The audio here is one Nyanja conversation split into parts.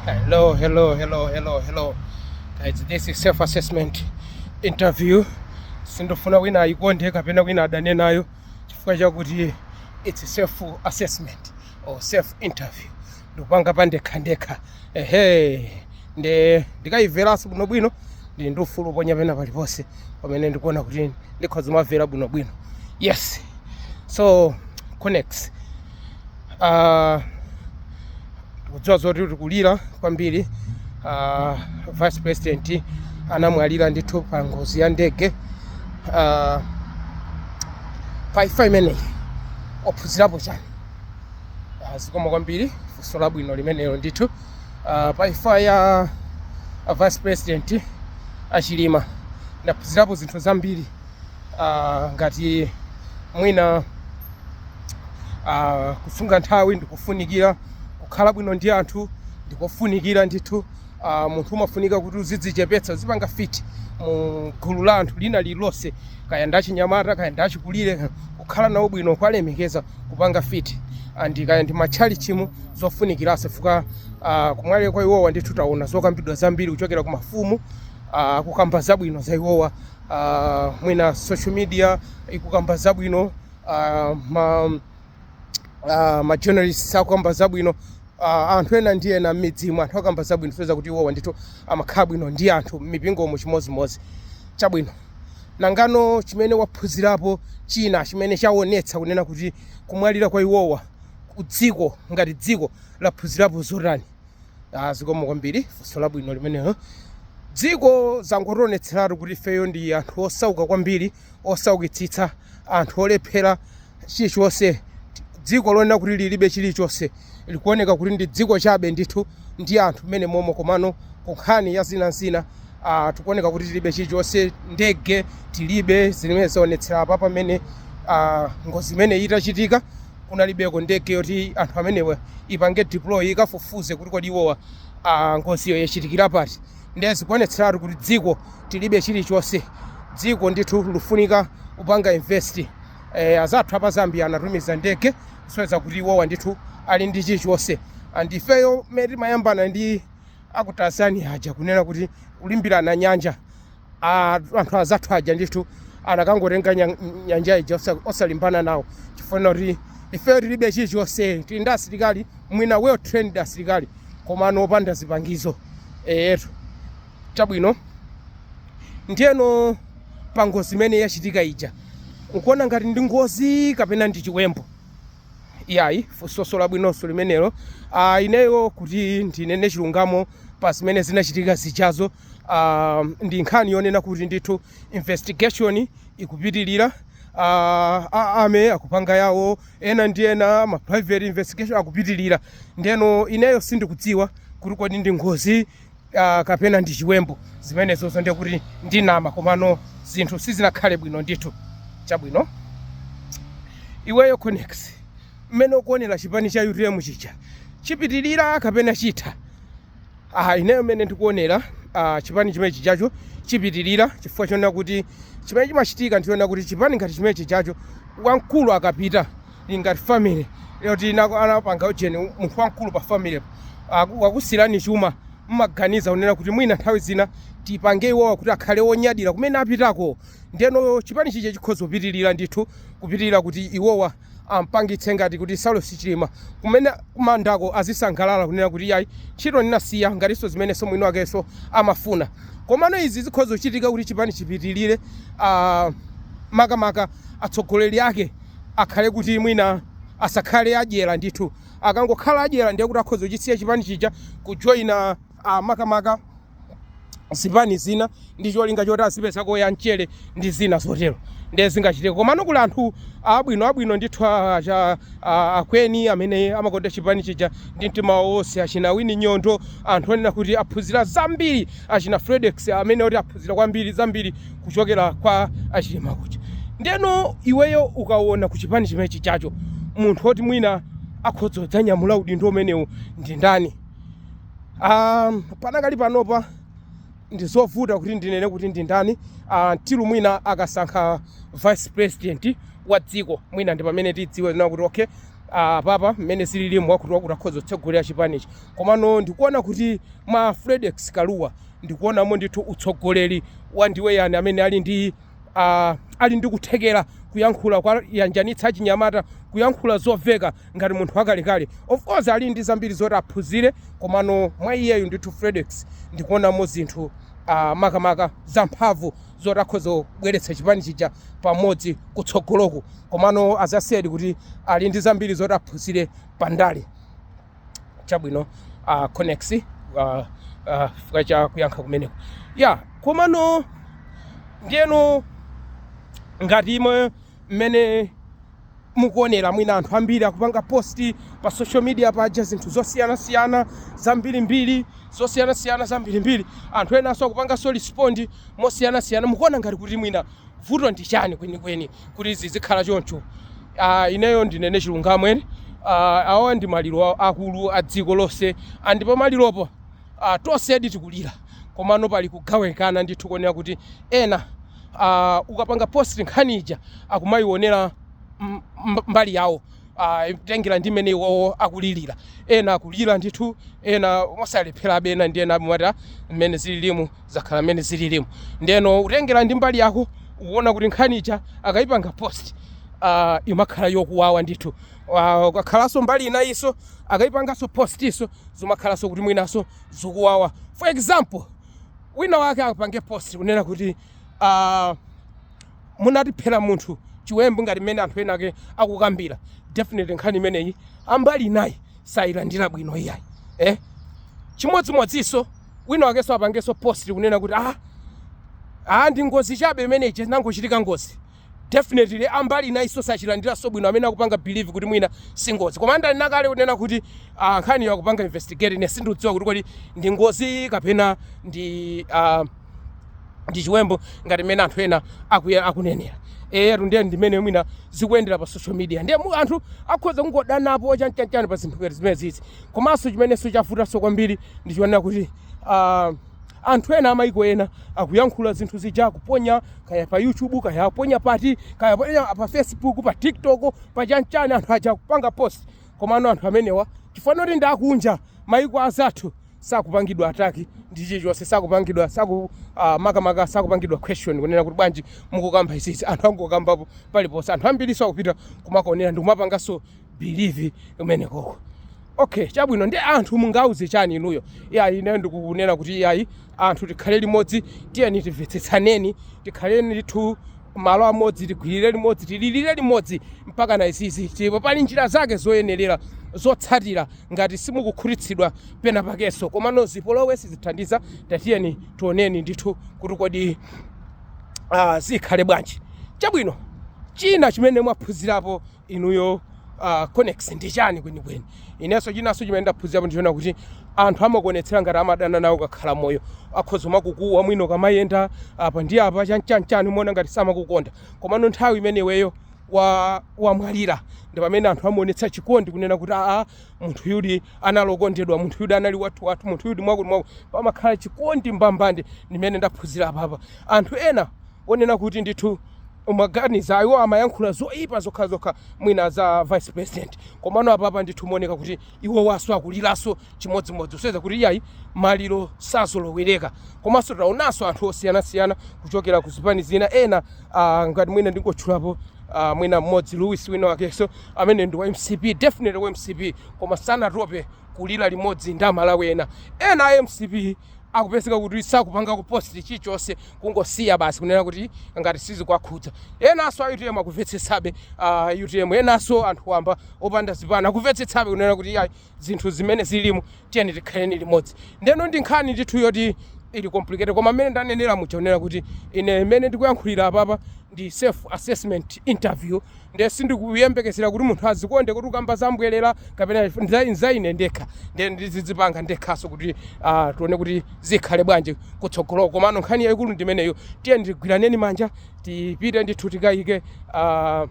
Hello, hello, hello, hello, hello. Guys, this is self-assessment interview. Sindikufuna wina ayikonde kapena wina adane nayo chifukwa chakuti it's self assessment or self interview. Ndikupanga pandekhandekha. Ehe. Nde ndikayimveranso bwinobwino ndili ndi ufulu oponya pena paliponse pamene ndikuona kuti ndikhoza kumamvera bwinobwino. Yes. So connects. uh, kudziwa zoti tikulira kwambiri uh, vice president anamwalira ndithu pa ngozi ya ndege uh, pa imfa imeneyi waphunzirapo chani uh, zikomo kwambiri funso labwino limenelo ndithu uh, pa imfa ya uh, vice president a Chilima ndaphunzirapo zinthu zambiri uh, ngati mwina uh, kusunga nthawi ndi kofunikira kukhala bwino ndi anthu ndi kofunikira ndithu uh, munthu umafunika kuti uzidzichepetsa uzipanga fit mu gulu la anthu lina lililonse kaya ndi achinyamata kaya ndi achikulire kukhala nawo bwino kuwalemekeza kupanga fit and kaya ndi m'matchalitchimu zofunikiranso chifukwa uh, kumwalira kwa iwowa ndithu taona zokambidwa zambiri kuchokera ku mafumu uh, kukamba zabwino za iwowa uh, mwina social media ikukamba zabwino uh, ma, uh, ma journalists akukamba zabwino uh, anthu ena ndi ena m'midzimu anthu akamba zabwino kusonyeza kuti iwowa ndithu amakhala bwino ndi anthu m'mipingomu chimodzimodzi chabwino nangano chimene waphunzirapo china chimene chaonetsa kunena kuti kumwalira kwa iwowa dziko ngati dziko laphunzirapo zotani Ah, zikomo kwambiri funso labwino limenelo dziko zangotionetseratu kuti ifeyo ndi anthu osauka kwambiri osaukitsitsa anthu olephera chilichonse dziko lonena kuti lilibe chilichonse likuoneka kuti ndi dziko chabe ndithu ndi anthu m'menemomo komano ku nkhani ya zinazina ah, tikuoneka kuti tilibe chilichonse ndege tilibe zimene zaonetsera apapa pamene ah, ngozi imeneyi itachitika kunalibeko ndege yoti anthu amenewa ipange deploy ikafufuze kuti kodi iwowa ah, ngoziyo yachitikira pati ndiye zikuonetseratu kuti dziko tilibe chilichonse dziko ndithu likufunika kupanga invest eh, azathu a pa Zambia anatumiza ndege kusonyeza kuti iwowa ndithu ali ndi chilichonse and ifeyo mmene timayambana ndi a ku Tanzania aja kunena kuti kulimbirana nyanja a anthu azathu aja ndithu anakangotenga nya- nyanja ija osa- osalimbana nawo chifukwa kuti ifeyo tilibe chilichonse tili ndi asilikali mwina well trained asilikali komano opanda zipangizo eyetu chabwino ndiyeno pa ngozi imene yachitika ija ukuona ngati ndi ngozi kapena ndi chiwembu iyayi funso labwinonso limenelo ah, ineyo kuti ndinene chilungamo pa zimene zinachitika zijazo uh, ndi nkhani yonena kuti ndithu investigation ikupitilira uh, ah, a army akupanga yawo ena ndi ena ma private investigation akupitilira ndeno ineyo sindikudziwa kuti kodi ndi ngozi uh, kapena ndi chiwembu zimenezo zo ndiye kuti ndinama komano zinthu sizinakhale bwino ndithu chabwino iweyo conex mmene ukuonera chipani cha utm chija chipitilira kapena chitha Aha, ineyo mmene ndikuonera ah, chipani chimene chijacho chipitirira chifukwa chonena kuti chimene chimachitika ndichonena kuti chipani ngati chimene chijacho wamkulu akapita ili ngati family yoti inako anapanga ujeni munthu wamkulu pa family aku- wakusirani chuma mumaganiza kunena kuti mwina nthawi zina tipange iwowa kuti akhale onyadira kumene apitako ndeno chipani chija chikhoza kupitirira ndithu kupitirira kuti iwowa ampangitse ngati kuti Saulos Chilima kumene kumandako azisangalala kunena kuti yayi ntchito ndinasiya ngatinso zimenenso mwini wakenso amafuna komano izi zikhoza kuchitika kuti chipani chipitirire ah, makamaka atsogoleri ake akhale kuti mwina asakhale adyera ndithu akangokhala adyera ndiye kuti akhoza kuchisiya chipani chija kujoyina ah, makamaka zipani zina ndi cholinga choti azipezako ya mchere ndi zina zotero ndiye zingachitike komano kuli anthu abwino abwino ndithu a- acha- a- akweni amene amakonda chipani chija ndi mtima wawo wonse achina Winnie Nyondo anthu onena kuti aphunzira zambiri achina fredex amene oti aphunzira kwambiri zambiri kuchokera kwa achilima kuja ndeno iweyo ukaona ku chipani chimene chijacho munthu oti mwina akhoza kudzanyamula udindo umenewu ndi ndani Um, panakali panopa ndizovuta kuti ndinene kuti ndi ndani uh, till mwina akasankha vice president wa dziko mwina ndi pamene tidziwe na kuti okay uh, apapa mmene zililimu wakuti wakuti akhoza kutsogolera chipanichi komano ndikuona kuti mwa fredex Kalua ndikuonamo ndithu utsogoleri wa ndiwe eya ni amene ali ndi uh, ali ndi kuthekera kuyankhula kuwayanjanitsa achinyamata kuyankhula zoveka ngati munthu wakalekale of course ali ndi zambiri zoti aphunzire komano mwa iyeyu ndithu Fredex ndikuonamo zinthu ah, makamaka zamphamvu zoti akhoza kubweretsa chipani chija pamodzi kutsogoloku komano azatsiyedi kuti ali ndi zambiri zoti aphunzire pa ndale chabwino uh, conex uh, uh, zikomo cha kuyankha kumeneko ya komano ndiyeno ngati imwe Mmene mukuonera mwina anthu ambiri akupanga post pa social media paja zinthu zosiyanasiyana zambirimbiri zosiyanasiyana zambirimbiri anthu enanso akupanganso respond mosiyanasiyana mukuona ngati kuti mwina vuto ndi chani kwenikweni kuti zizikhala choncho Ah, ineyo ndinene chilungamo eti Ah, awa ndi maliro akulu a dziko lonse ndipo pamaliropo a Tonsedi tikulira komano pali kugawikana ndithu konena kuti ena a ukapanga post nkhani ija akumayionera mbali yawo tengera ndi mmene iwowo akulilira ena akulira ndithu ena mosalepherabe ena ndi ena amati mmene zililimu zakhala mmene zililimu ndeno utengera ndi mbali yako ukuona kuti nkhani ija akayipanga post uh, imakhala yokuwawa ndithu Aaa ukakhalaso mbali inayiso akaipangaso post so zimakhalaso kuti mwinaso zikuwawa for example wina wake apange post kunena kuti aah munatiphera munthu chiwembu ngati mmene anthu ena ake akukambira definitely nkhani imeneyi ambali inayi sayilandira bwino iyayi eh chimodzimodziso wina wakeso apangeso post kunena kuti aah aah ndi ngozi chabe imene ija inangochitika ngozi Definitely ambali inayiso sachilandilaso bwino amene akupanga believe kuti mwina si ngozi koma ndanena kale kunena kuti ah, nkhaniyo akupanga investigate ine sindikudziwa kuti kodi ndi ngozi kapena ndi ah, ndi chiwembu ngati mmene anthu ena akuya- akunenera eyetu ndiye ndimene mwina zikuyendera pa social media ndiye mu- anthu akhoza kungodanapo chanchanchan pa zinthu ngati zimene zizi komanso chimenenso chavutanso kwambiri ndi chonena kuti ah, Anthu ena amaiko ena akuyankhula zinthu zija akuponya kaya pa YouTube kaya aponya pati kaya aponya pa Facebook pa TikTok pa chanchani anthu aja akupanga post komano anthu amenewa chifukwa choti ndi akunja maiko azathu sakupangidwa attack ndi chilichonse sakupangidwa saku uh, makamaka sakupangidwa question kunena kuti bwanji mukukamba izizi anthu angokambapo paliponse anthu ambiriso akupita kumakaonera ndikumapanganso believe kumenekoko okay chabwino ndiye anthu mungauze chani inuyo iyayi ine ndikunena kuti iyayi anthu tikhale limodzi tiyeni timvetsetsaneni tikhaleni ndithu malo amodzi tigwirire limodzi tililire limodzi mpakana izizi ndipo pali njira zake zoyenerera zotsatira ngati simukukhutitsidwa pena pakenso komano zipolowe sizithandiza tatiyeni tioneni ndithu kuti kodi ah, zikhale bwanji chabwino china chimene mwaphunzirapo inuyo uh, conex ndi chani kwenikweni inenso chinanso chimene ndaphunzirapo ndi chonena kuti anthu amakuonetsera ngati amadana nawe ukakhala moyo akhoza kumakukuwa mwina ukamayenda apa ndi apa chanichani chani umaona ngati samakukonda komano nthawi imene iweyo wa wamwalira ndi pamene anthu amaonetsa chikondi kunena kuti aa munthu yudi anali okondedwa munthu yudi anali wathu wathu munthu yudi mwakuti mwakuti pamakhala chikondi mbambande ndimene ndaphunzira apapa anthu ena onena kuti ndithu umaganiza iwo amayankhula zoyipa zokha zokha mwina za vice president komano apapa ndithu umaona kuti iwowanso akuliranso chimodzimodzi kusonyeza kuti iyayi maliro sazoloweleka komanso taonanso anthu osiyanasiyana kuchokera ku zipani zina ena Uh, ngati mwina ndingotchulapo uh, mwina mmodzi Louis wina wakenso amene ndi wa MCP definitely wa MCP koma sanatope kulira limodzi ndi amalawi ena ena a MCP akupezeka kuti sakupanga kuposti chilichonse kungosiya basi kunena kuti ngati sizikwakhudza enanso a utm akumvetsetsabe uh, utm enanso anthu wamba opanda zipani akumvetsetsabe kunena kuti ayi zinthu zimene zilimo tiyeni tikhaleni limodzi ndeno ndi nkhani ndithu yoti ili complicated koma mmene ndanenera muja kunena kuti ine mmene ndikuyankhulira apapa ndi self assessment interview nde sindikuyembekezera kuti munthu azikomenta kuti ukukamba za mbwerera kapena nza- nza ine ndekha nde ndizidzipanga ndekhanso kuti ah, tione kuti zikhale bwanji kutsogoloko komano nkhani yayikulu ndimeneyo tiyeni tigwiraneni manja tipite ndithu tikayike ah,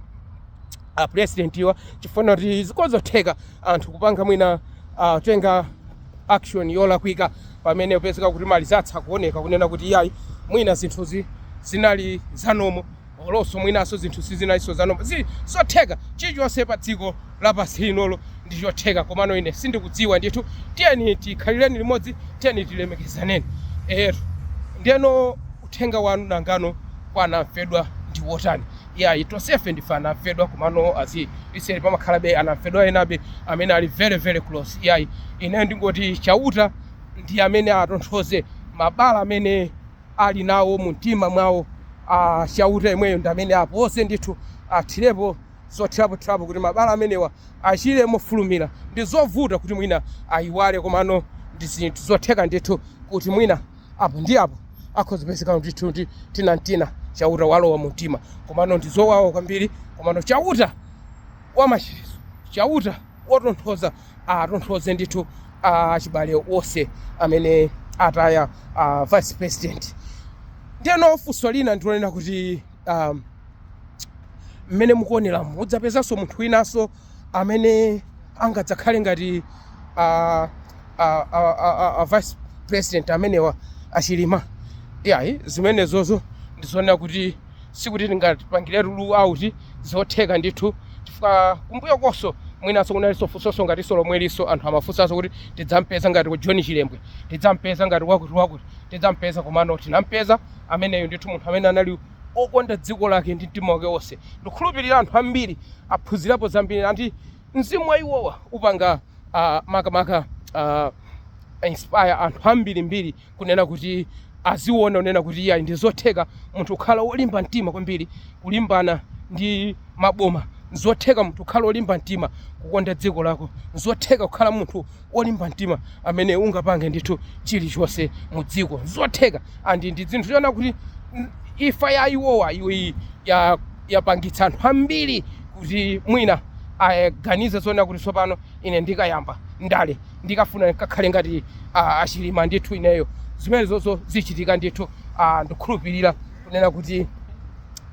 a president wa chifukwa kuti ndi zotheka anthu kupanga mwina uh, kutenga action yolakwika pamene kupezeka kuti mali zatha kuoneka kunena kuti iyayi mwina zinthuzi zinali zomwezo olonso mwinanso zinthu sizinalinso zomwezo ndi zotheka chilichonse pa dziko lapansi linoli ndi chotheka komano ine sindikudziwa ndithu tiyeni tikhaleni limodzi tiyeni tilemekezaneni lero ndeno uthenga wanu nanga no kwa anamfedwa ndi wotani iyayi tonsefe ndife anamfedwa komano as I said pamakhalabe anamfedwa enabe amene ali very very close iyayi ine ndingoti chauta ndi amene atonthoze mabala amene ali nawo mu mtima mwawo chauta yemweyo ndi amene apoze ndithu athirepo zothirapothirapo kuti mabala amenewa achire mofulumira ndi zovuta kuti mwina ayiwale komano ndi zinthu zotheka ndithu kuti mwina apo ndi apo akhoza kupezeka ndithu ndi tina n'tina chauta walowa mu mtima komano ndi zowawa kwambiri komano chauta wamachiritso chauta wotonthoza atonthoze ndithu achibale onse amene ataya ah, vice president ndeno funso lina ndilonena kuti um, mmene mukuonera mudzapezanso munthu winanso amene angadzakhale ngati a, a, a, a, a, a vice president amenewa a Chilima iyayi zimenezozo ndizoona kuti sikuti tingapangire rule out zotheka ndithu chifukwa kumbuyo konso mwinanso kunalinso funsoso ngatinso lomwelinso anthu amafunsanso kuti tidzampeza ngati ku John Chilembwe tidzampeza ngati wakuti wakuti tidzampeza komano tinampeza ameneyo ndithu munthu amene anali okonda dziko lake ndi mtima wake wonse. Ndikukhulupirira anthu ambiri aphunzirapo zambiri and mzimu wa iwowa upanga ah, makamaka ah, inspire anthu ambirimbiri kunena kuti aziwona kunena kuti iyayi ndizotheka munthu kukhala wolimba mtima kwambiri kulimbana ndi maboma nzotheka munthu kukhala wolimba mtima kukonda dziko lako nzotheka kukhala munthu wolimba mtima amene ungapange ndithu chilichonse mu dziko zotheka and ndi zinthu zoona kuti mm, imfa ya iwowa yapangitsa anthu ambiri kuti mwina aganize zoona kuti tsopano ine ndikayamba ndale ndikafuna kakhale ngati ah, a Chilima ndithu ineyo zimenezozo zichitika ndithu ah, ndikhulupirira kunena kuti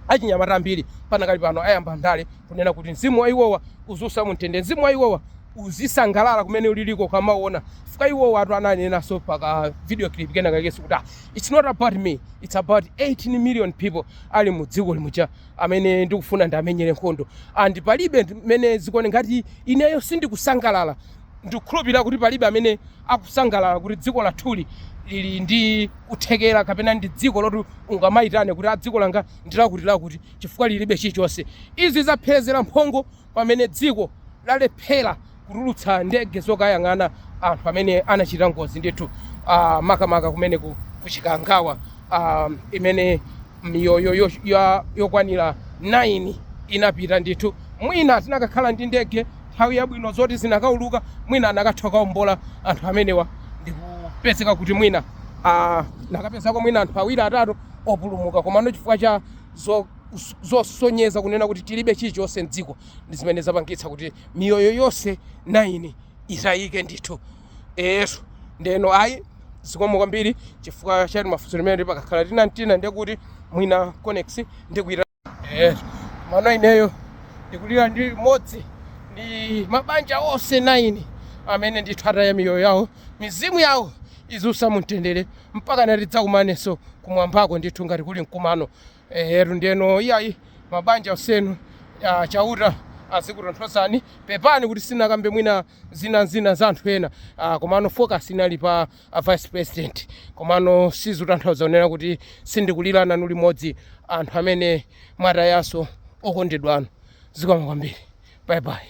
achinyamata ambiri panakali pano ayamba ndale kunena kuti mzimu wa iwowa uziusa mumtendere mzimu wa iwowa uzisangalala kumene uliliko ukamaona chifukwa iwowatu ananenanso pa ka video clip kenakakenso kuti ah, it's not about me it's about 18 million people ali mu dziko lino muja amene ndikufuna ndiamenyere nkhondo and palibe ndi- mmene zikuonekera ngati ineyo sindikusangalala ndikukhulupirira kuti palibe amene akusangalala kuti dziko lathuli lili ndi kuthekera kapena ndi dziko loti ungamayitane kuti a dziko langa ndilakutilakuti chifukwa lilibe chilichonse izi zapherezera mphongo pamene dziko lalephera kutulutsa ndege zokayang'ana anthu amene anachita ngozi ndithu ah, makamaka kumene ku, ku Chikangawa ah, imene miyoyo yo- ya- yokwanira 9 inapita ndithu mwina tinakakhala ndi ndege nthawi yabwino zoti zinakauluka mwina anakatha kukaombola anthu amenewa ndikupezeka kuti mwina ah, anakapezako mwina anthu awiri atatu opulumuka komano chifukwa cha zo, zosonyeza kunena kuti tilibe chilichonse mdziko ndi zimene zapangitsa kuti miyoyo yonse 9 itayike ndithu eyetu ndiyeno ayi zikomo kwambiri chifukwa cha timafunso timeneti pakakhala tina n'tina ndiye kuti mwina conex ndikuita eh koma ineyo ndikulira limodzi ndi mabanja onse 9 amene ndithu ataya miyoyo yawo Mizimu yawo iziusa mumtendere mpakana tidzakumanenso kumwambako ndithu ngati kuli mkumano. Ehetu ndiyeno iyayi mabanja onsenu ah, Chauta azikutonthozani. Pepani kuti sinakambe mwina zinazina za anthu ena ah, komano focus inali pa a vice president komano sizutanthauza kunena kuti sindikulira nanu limodzi anthu amene mwatayanso okondedwa anu. Zikomo kwambiri. Bye bye.